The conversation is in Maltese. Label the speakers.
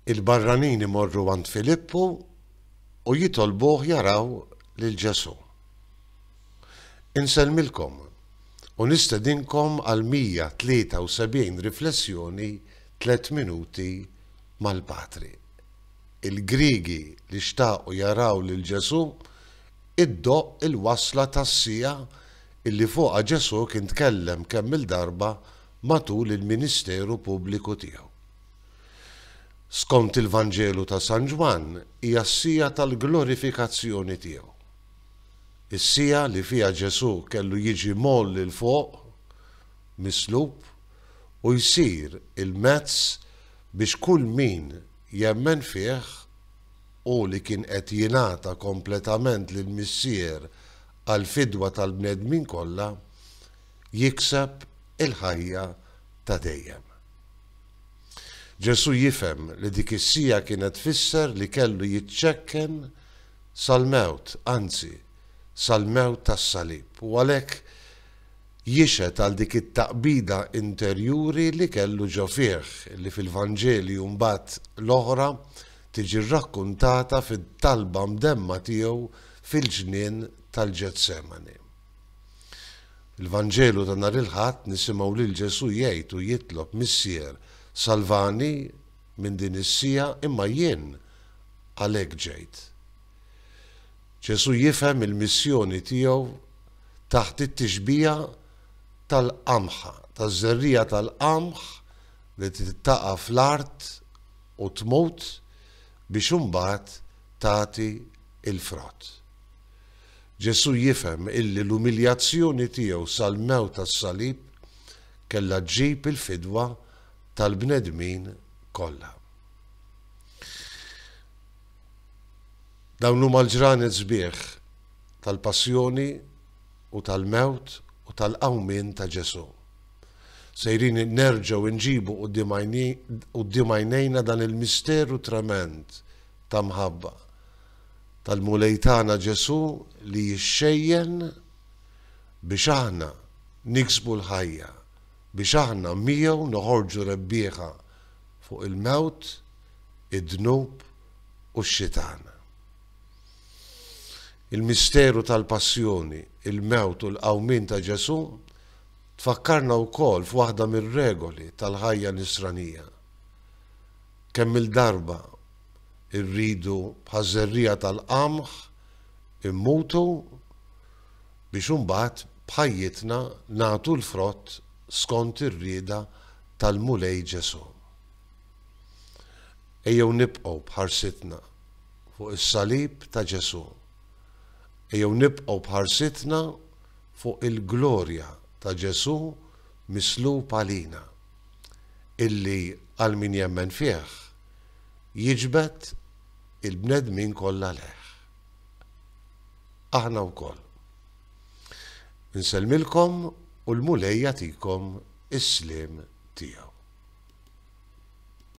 Speaker 1: Il-barranin imorru għand Filippu u jitolbuh jaraw lil Ġesù. Insellmilkom u nistedinkom għal 173 riflessjoni tliet minuti mal-Patri. Il-Griegi li xtaqu jaraw lil Ġesù iddoqq il-wasla tas-siegħa illi fuqha Ġesù kien tkellem kemm-il darba matul il-ministeru pubbliku tiegħu. Skont il-Vanġelu ta' San Ġwann hija s-siegħa tal-glorifikazzjoni tiegħu. Is-siegħa li fiha Ġesù kellu jiġi mgħolli 'l fuq, mislub, u jsir il-mezz biex kull min jemmen fih, u li kien qed jingħata kompletament lill-Missier għall-fidwa tal-bnedmin kollha, jikseb il-ħajja ta' dejjem. Ġesù jifhem li dik is-siegħa kienet tfisser li kellu jiċċekken sal-mewt, anzi, sal-mewt tas-salib, u għalhekk jixhed għal dik it-taqbida interjuri li kellu ġo fih, li fil-Vanġeli u mbagħad l-oħra tiġi rrakkuntata fit-talba mdemma tiegħu fil-ġnien tal-Ġetsemani. Il-Vanġelu ta' nhar il-Ħadd nisimgħu lil Ġesù jgħid u jitlob, Missier, salvani minn din is-siegħa imma jien għalhekk ġejt. Ġesù jifhem il-missjoni tiegħu taħt it-tixbiha tal-qamħa, taż-żerriegħa tal-qamħ li trid taqa' fl-art u tmut biex imbagħad tagħti l-frott. Ġesù jifhem illi l-umiljazzjoni tiegħu sal-mewt tas-salib kellha ġġib il-fidwa tal-bnedmin kollha. Dawn huma l-ġranet sbieħ tal-passjoni u tal-mewt u tal-qawmien ta' Ġesù. Sejrin nerġgħu nġibu quddiem għajnejna dan il-misteru tremend ta' mħabba tal-Mulej tagħna Ġesù li jixxejjen biex aħna niksbu l-ħajja, biex aħna miegħu noħorġu rebbieħa fuq il-mewt, id-dnub u x-xitan. Il-misteru tal-passjoni, il-mewt u l-qawmien ta' Ġesù tfakkarna wkoll f'waħda mir-regoli tal-ħajja Nisranija. Kemm-il darba irridu bħaż-żerriegħa tal-qamħ immutu biex imbagħad b'ħajjitna nagħtu l-frott skont ir-rieda tal-Mulej Ġesù. Ejjew nibqgħu b'ħarsitna fuq is-salib ta' Ġesù. Ejjew nibqgħu b'ħarsitna fuq il-glorja ta' Ġesù mislub għalina, illi għal min jemmen fih jiġbed il-bnedmin kollha lejh. Aħna wkoll. Insellmilkom u l-Mulej jagħtikom is-sliem tiegħu.